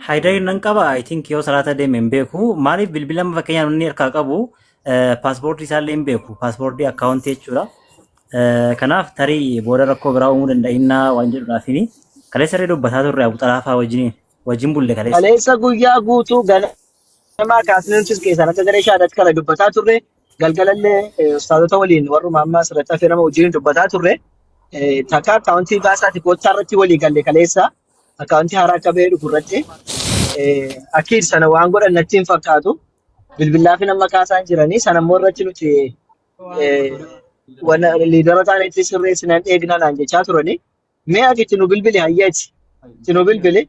Haydariin nan qaba I think yoo salaata deeme hin beeku maaliif bilbila amma fakkeenyaaf inni harkaa qabu paaspoortii isaallee hin beeku paaspoortii akkaawuntii jechuudha. Eh, Kanaaf tarii booda rakkoo biraa uumuu danda'innaa waan jedhuudhaafini kaleessa irra dubbataa turre abu xalaafaa wajjin wajjin bulle kaleessa. Kaleessa guyyaa guutuu ganamaa kaasnee nutis keessaan akka garee shaadaatti kana dubbataa turre galgalallee eh, ustaazota waliin warruma amma asirratti hafee nama wajjin dubbataa turre eh, takka akkaawuntii baasaati koottaa irratti walii galle kaleessa akkaawuntii haaraa akka bahee dhufu irratti eh, akkiid sana waan godhan natti hin fakkaatu bilbilaa fi nama kaasaan jiranii sana immoo irratti nuti eh, wana liidara taanettis sirreessinan eegna naan jechaa turanii mee ati itti nu bilbili hayyeeti itti nu bilbili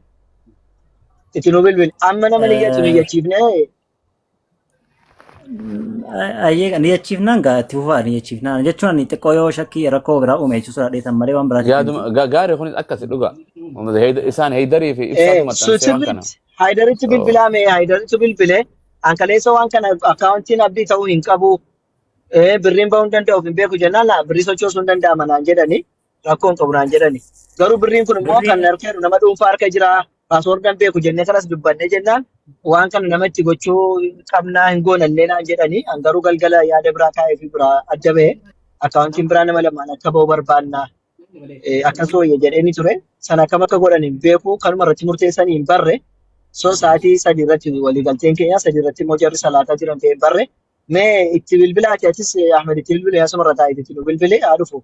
itti nu bilbili amma nama niyyatu niyyachiifnee Ayyee ni jechiifnaan gaa itti fufaa ni jechiifnaan jechuun ani xiqqoo yoo shakkii rakkoo biraa uume jechuun sodaa dheetan malee waan biraatiif yaaduma miti. ga- gaari kunis akkasi dhuga Uummata Heyd- isaan heydarii fi ibsaatu Eh, maxxansee waan kana Switzerland Haydaritti bilbilaa mee Haydaritti bilbile hankaleessa waan kana akkaawuntiin abdii ta'uu hin qabu eh, birriin bahuu hin danda'u hin beeku jennaan laa birrii sochoosuu hin danda'ama naan jedhani rakkoo hin qabu naan jedhani. Garuu birriin kun immoo kan Birriin harka jiru nama dhuunfaa harka jira. Paaswoordii hin beeku jennee kanas dubbannee jennaan waan kana nama itti gochuu qabnaa hin goonallee naan jedhani. An garuu galgala yaada biraa kaa'ee fi biraa adda ba'e. Akkaawuntiin biraa nama lamaan akka ba'u barbaanna. Eh, Akkas wayya jedheenii ture. Sana akkam akka godhan hin beeku. Kanuma irratti murteessanii hin barre. So sa'aatii sadii irratti waliigalteen keenya sadii irratti immoo jarri salaataa jiran ta'e hin barre. Mee itti bilbilaati atis eh, Ahmed itti bilbile asuma irra taa'ee itti nu bilbile haa dhufu.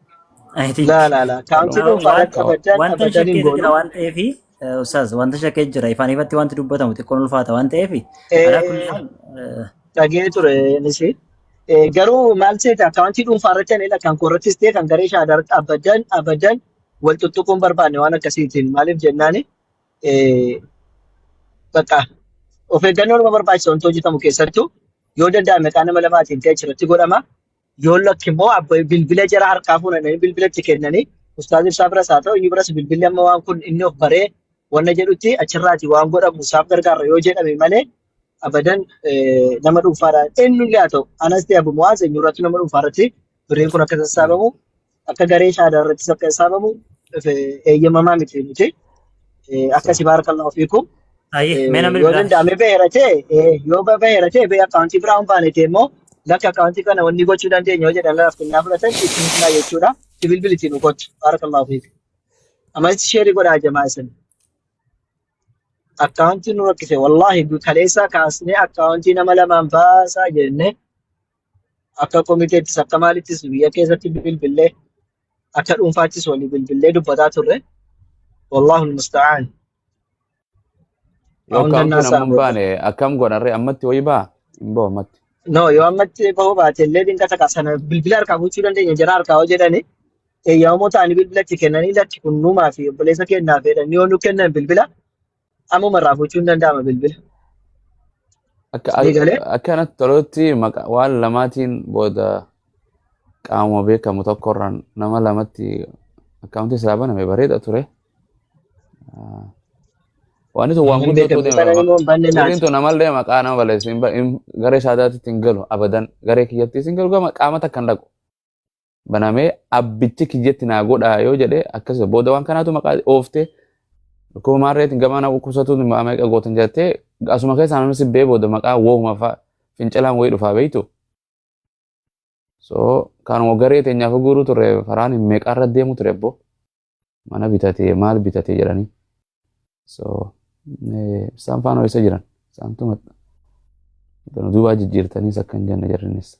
I think laa laa laa kaamsi Wa- dhuunfaa waan- rakka baddan wanta hin abadan hin shakkeetu jira goonu waan ta'eef ustaaz wanta shakkee jira ifaan ifatti wanti dubbatamu xiqqoon ulfaata waan ta'eef alaa kulli Eh, haal eh, dhagee ture nisi Eh, garuu maal seeta akkaawuntii dhuunfaa irratti anila kan koorrattis ta'e kan garee shaadaa irratti abadan abadan wal tuttuquun barbaanne waan akkasiitiin maaliif jennaani eh, bakka of eeggannoo nama barbaachisa wanti hojjetamu keessattuu yoo danda'ame qaama nama lamaatiin ta'e achirratti godhama Yoo lakki immoo abba bilbila jara harkaa fuudhanii bilbila itti kennanii ustaazi ibsaa biras haa ta'u inni biras bilbilli amma waan kun inni of baree wanna jedhutti achirraati waan godhamu isaaf gargaarra yoo jedhame malee abadan eh, nama dhuunfaadhaan eenyullee haa ta'u anas ta'e abu mu'aaz eenyurratti nama dhuunfaarratti birriin kun akka sassaabamu akka garee shahaadaa irrattis akka hisaabamu if- eeyyamamaa miti miti. Eh, Akkasi baarakallahu fiikum. Ayyee Eh, mee namni Yoo biraa. danda'ame beera ta'e eh, yoo ba- beera ta'e bee akkaawuntii biraa hin baane ta'e immoo lakki akkaawuntii kana wanni gochuu dandeenya yoo jedhan laaf kennaa fudhatan itti himnaa jechuudha. Itti bilbilitii nu gochu. Baarakallahu fiikum. Ammas sheerii godhaa jamaa isin. Akkaawuntii nu rakkise wallaahi kaleessaa kaasnee akkaawuntii nama lamaan baasaa jennee akka komiteettis akka maalittis biyya keessatti bilbillee akka dhuunfaattis walii bilbillee dubbataa turre. Wallaahu musta'aan. Yoo Hunda kaawuntiin naasaa amma hin baane akkam goonarree ammatti wayii baa hin bahu ammatti. No, yoo ammatti bahuu baate illee dinqa takka sana bilbila harkaa gochuu dandeenya jara harkaa hoo jedhani eeyyamamoo ta'anii bilbilatti kennanii lakki kunnumaa fi obboleessa kennaa fedhan yoo nu kennan bilbila Ammuma irraa fuuchuu hin danda'ama bilbila. Akka Sii galee? akkanatti tolutti maqa- waan lamaatiin booda qaamuma beekamu tokkorraan nama lamatti akkaawuntii isaa baname bareeda ture. Ah, Waan itti waan Namni guddoo beekamu ta'uu sana deema. immoo hin banne Sirriin naati. tun namallee maqaa nama balleessu hin ba- hin- garee saadaatti hin galu abadan garee kiyyattiis hin galu gama qaama takka hin dhaqu. banamee abbichi kiyyatti naa godhaa yoo jedhe akkas jedha. booda waan kanaatu maqaa ooftee dhukkuba maarreetiin gamaa na dhukkubsatu meeqa gootan jettee asuma keessaa namni si bee booda maqaa wooma fa'a fincilaan wayii dhufaa beektu. So kanuma garee teenyaaf guuruu turre faraan hin meeqaarra deemu ture boo mana bitatee maal bitatee jedhanii. So isaan faana isa jiran isaan tumadha. Duubaa jijjiirtaniis akka hin jenne jarrinnis.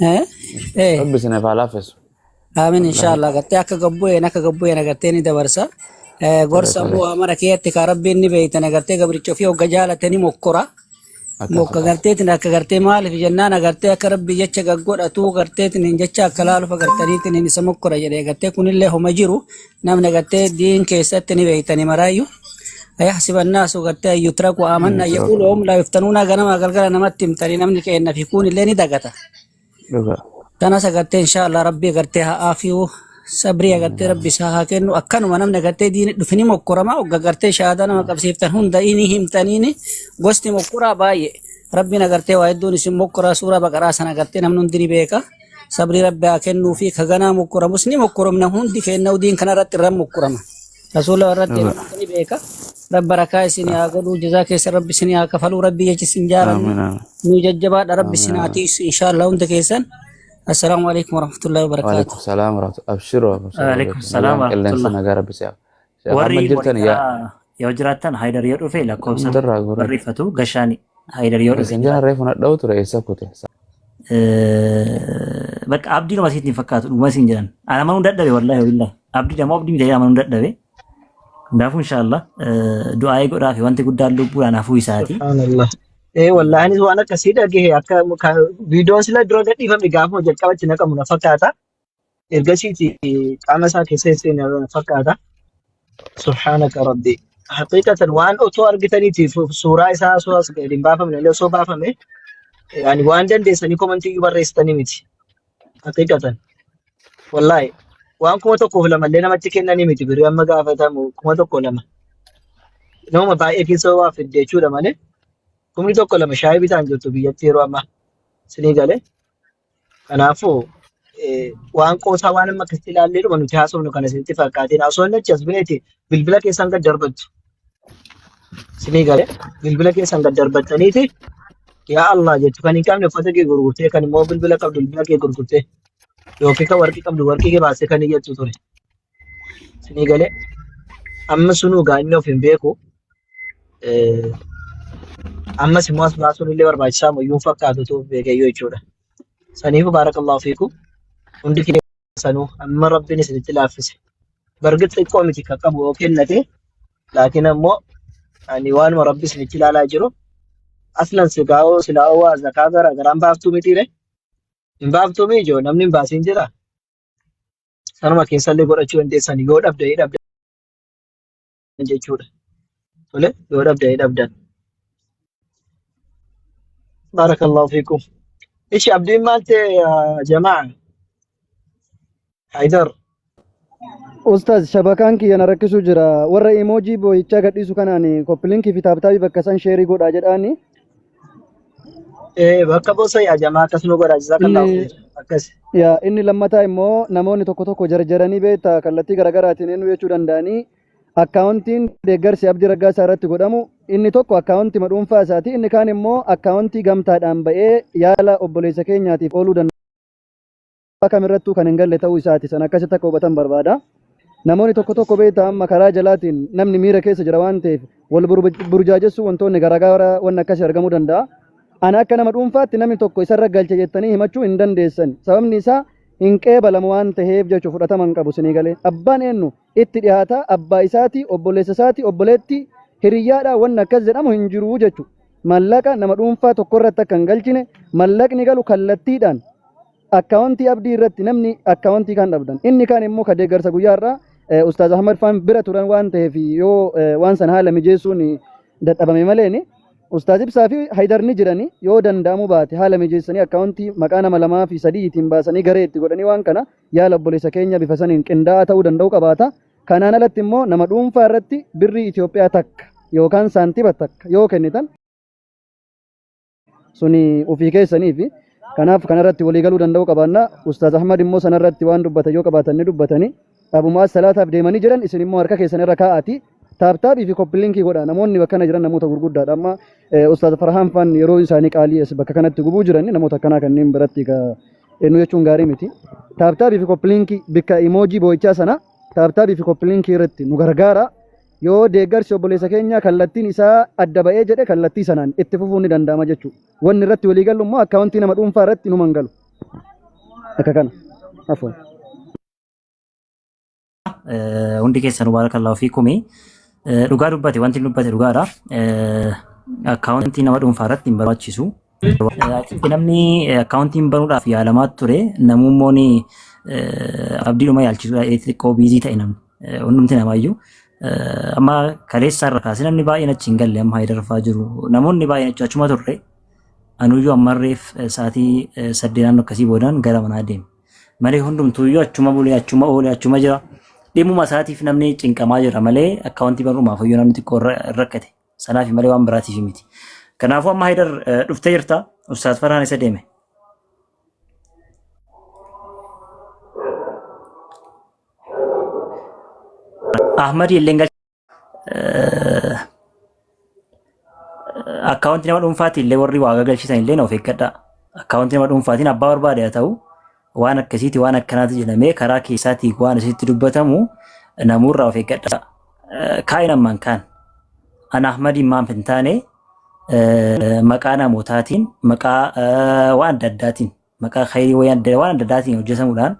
Eh? Eh. Rabbi isin haa laaffisu. Aamin inshallah gartee akka gabbu'een akka gabbu'een agartee ni dabarsa. Eh, Gorsa Tole. bu'aa mara keessatti kan rabbiin ni beeytan agartee gabricha ofii hogga jaalate ni mokkora. Akkas Mokka akkas. garteetiin akka gartee maaliif jennaan agartee akka rabbi jecha gaggodhatu garteetiin hin jecha akka laaluuf agartaniitiin hin isa mokkora jedhee gartee kunillee homa jiru namni gartee diin keessatti ni beektani maraayyuu ayahsiba annaasu gartee an yutraku amanna Yutraku. yaquulu hum laa yuftanuuna ganama galgala namatti himtanii namni keenna fi kuun illee ni dagata Dhugaa. tanas agartee inshaallah rabbii agartee haa aafiyu sabrii agartee rabbi isaa haa kennu akkanuma namni agartee diini dhufi ni mokkorama ogga agartee shahaadaa nama qabsiiftan hunda ni himtaniini gosti mokkoraa baay'ee rabbiin agartee waa hedduun isin mokkoraa suuraa baqaraa sana agartee namni hundi ni beeka sabrii rabbi haa kennuu fi ka ganaa mokkoramus ni mokkoromna hundi keenna udiin kana irratti irra mokkorama rasuula irratti Amiin. irratti ni beeka rabbi barakaa isin haa godhuu jazaa keessa rabbi isin haa kafaluu rabbi jechi isin jaalannu Amiin. Amiin. nu jajjabaadha rabbi isin haa tiisu inshaallaa hunda keessan assalaamu alaikum warahmatullahi wabarakaatu Waalaikum salaam warahmatullahi abshiroo abshiroo Waalaikum beeku salaam nagaan qilleensa warahmatullahi. nagaa rabbi si'a Sheekh Ahmad Warri jirtan yaa Moonikaa yoo jiraattan Haayidar yoo dhufe lakkoofsa Abdarraa goree barreeffatu gashaan Haayidar yoo dhufe isin jala jiraata. reefu nadha'u ture eessa kute Eh, Bakka abdiin nama isiitti hin fakkaatu dhuguma isin jedhan. Ana amanuu dadhabe wallaahi wabillahi. Abdii dama abdii miti amanuu dadhabe. Kanaafuu inshaallah eh, du'aa'ee godhaa fi wanti guddaan lubbuudhaan hafuu isaati. Subhanallah. Ee wallaahi anis waan akkasii dhagahe akka ka- viidiyoon sila dura gadhiifame gaafuma jalqaba itti naqamu na fakkaata. Ergasiiti qaama isaa keessa seena fakkaata. Subhaanaka rabbi. Haqiiqatan waan otoo argitaniiti fu- suuraa isaa osoo as gadi hin baafamne illee osoo baafame yani waan dandeessanii komantii iyyuu barreessitanii miti. Haqiiqatan. Wallaahi. Waan kuma tokkoof lama illee namatti kennanii miti birrii amma gaafatamu kuma tokko lama. Nama baay'ee keessa waa fidde jechuudha malee kumni tokko lama shaayii bitaan jirtu biyyatti yeroo ammaa. Sinii galee. Kanaafuu eh, waan qoosaa waan amma akkasitti ilaallee dhuma nuti haasofnu kana isinitti fakkaatiin osoo inni achi as ba'eeti bilbila keessan gad darbattu isinii galee bilbila keessan gad darbattaniiti yaa Allah jettu kan hin qabne uffata kee gurgurtee kan immoo bilbila qabdu bilbila kee gurgurtee yookiin kan warqii qabdu warqii kee baastee kan iyyattu ture. Isinii galee amma sunuu gaa inni of hin beeku. Eh, Ammas immoo as baasuun illee barbaachisaa moo iyyuu hin fakkaatu utuu beekeyyuu jechuudha. Saniifuu baarakallahu fiikum. Hundi kee sanuu amma rabbiin isinitti laaffise. Bargit xiqqoo miti kan qabu yoo kennate laakiin ammoo ani waanuma rabbi isinitti ilaalaa jiru aslan sigaa'oo silaa'oo waa zakaa gara garaan baaftuu mitiire hin baaftuu miijoo namni hin baasiin jira. Sanuma keessallee godhachuu dandeessan yoo dhabda ni dhabda jechuudha. Tole yoo dhabda ni dhabdan. Baarakallahu fiikum. Ishi abdiin maal ta'e yaa jamaa? Haydar. Ustaz shabakaan kiyya na rakkisuu jira. Warra emoojii boo'ichaa gadhiisu kanaan koppilinki fi taaptaabii bakka san sheerii godhaa jedhaani. Eh, bakka bosa ya jama akkas nu godha jazakallahu inni khair. Akkas. yaa inni lammataa immoo namoonni tokko tokko jarjaranii beektaa kallattii garaagaraatiin eenyu jechuu danda'anii akkaawuntiin deeggarsi abdii raggaasaa irratti godhamu inni tokko akkaawuntii dhuunfaa isaati inni kaan immoo akkaawuntii gamtaadhaan ba'ee yaala obboleessa keenyaatiif ooluu danda'a. Waa kam irrattuu kan hin galle ta'uu isaati. Sana akkasitti akka hubatan barbaada. Namoonni tokko tokko beektaa amma karaa jalaatiin namni miira keessa jira waan ta'eef wal burjaajessuu wantoonni garaagaraa wanni akkasii argamuu danda'a. Ana akka nama dhuunfaatti namni tokko isarra galche jettanii himachuu hin dandeessan. Sababni isaa hin qeebalamu waan ta'eef jechuun fudhatama hin qabu sinii galee. Abbaan eenyu itti dhiyaata abbaa isaatii obboleessa isaatii obboleettii hiriyyaadhaa wanni akkas jedhamu hin jiru jechuudha. Mallaqa nama dhuunfaa tokko irratti akka hin galchine mallaqni galu kallattiidhaan Akkaawontii Abdii irratti namni akkaawontii kan dhabdan. Inni kaan immoo ka deeggarsa guyyaa har'aa eh, Ustaaz Ahmad Faan bira turan waan ta'eef yoo eh, waan san haala mijeessuun dadhabame malee ni Ustaaz Ibsaa fi Haydar ni jirani yoo danda'amu baate haala mijeessanii akkaawontii maqaa nama lamaa fi sadiitiin baasanii garee itti godhanii waan kana yaala obboleessa keenya bifa saniin qindaa'aa ta'uu danda'u qabaata. Kanaan alatti immoo nama dhuunfaa irratti birrii Itoophiyaa takka yookaan saantiba takka yoo kennitan suni ofii keessaniifi kanaaf kanarratti walii galuu danda'uu qabaanna ustaaz ahmad immoo sanarratti waan dubbatan yoo qabaatan ni dubbatanii dhabumaa salaataaf deemanii jiran isin immoo harka keessan irra kaa'aatii taaptaabii fi koppiliinkii godha namoonni bakka kana jiran namoota gurguddaadha amma eh, ustaaz farhaan faan yeroo isaanii qaalii as bakka kanatti gubuu jiran namoota akkanaa kanneen biratti ka eenyu jechuun gaarii miti taaptaabii fi koppiliinkii bikka imoojii boo'ichaa sana taaptaabii fi koppiliinkii irratti nu gargaara Yoo deeggarsi obboleessa keenyaa kallattiin isaa adda ba'ee jedhe kallattii sanaan itti fufuun ni danda'ama jechuudha. Wanni irratti walii gallu immoo akkaawuntii nama dhuunfaa irratti numa hin galu. Akka kana. Afwan. Eh, hundi keessan baarakallahu fiikumi Eh, dhugaa dubbate wanti inni dubbate dhugaadha Eh, akkaawuntii nama dhuunfaa irratti hin barbaachisu Achitti namni akkaawuntiin banuudhaaf yaalamaa ture namummoon abdiidhuma yaalchisuudha xixiqqoo biizii ta'e namni hundumti namaayyuu. Amma kaleessaa irra kaasee namni baay'een achi hin galle amma haayidarfaa jiru namoonni baay'een achi achuma turre anuyyuu ammarreef sa'aatii saddeet naannoo akkasii boodaan gara manaa deema. Malee hundumtuuyyuu achuma bulee achuma oolee achuma jira. Dhimuma isaatiif namni cinqamaa jira malee akkaawuntii banuudhaaf iyyuu namni xiqqoo rakkate. Sanaafi malee waan biraatiif miti. Kanaafuu amma Haydar eh, dhuftee jirta. Ustaaz Farhaan isa deeme. Ahmadi illee gal akkaawunti nama dhuunfaati illee warri waa gagalchisan illee of eeggadhaa. Akkaawunti nama dhuunfaatiin abbaa barbaade haa ta'u waan akkasiiti waan akkanaati jedhamee karaa keessaatii waan isitti dubbatamu namuurraa of eeggadha. Kaa'in ammaan kaan an Ahmadiin maaf hin taane maqaa namootaatiin maqaa waan adda addaatiin maqaa khayrii waan adda addaatiin hojjetamuudhaan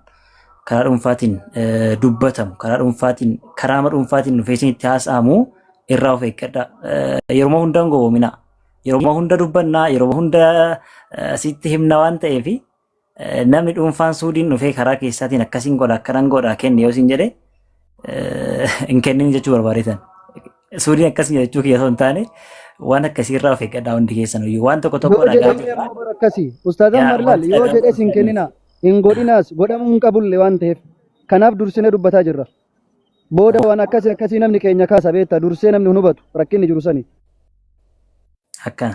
karaa dhuunfaatiin dubbatamu karaa dhuunfaatiin karaama dhuunfaatiin dhufeessin itti haasa'amu irraa of eeggadha. Yeroo hunda hin gowwoomina. Yeroo hunda dubbannaa yeroo hunda asitti himna waan ta'eefi. Namni dhuunfaan suudiin dhufee karaa keessaatiin akkasiin godha akkanan godha kenni yoo siin jedhe hin kennin jechuu barbaadeetan. Suudiin akkas jechuu kiyya osoo hin taane waan akkasiirraa of eeggadhaa hundi keessan iyyuu waan tokko tokko Yoo dhagaa jedhee jirra. ammoo bara akkasii ustaazan Yaa, marlaal wanti yoo dhagaa jedhes hin kenninaa hin godhinaas godhamuu hin qabulle waan ta'eef kanaaf dursinee dubbataa jirra. Booda waan akkasii akkasii namni keenya kaasa beekta dursee namni hin hubatu rakkinni jiru sani. Akkana.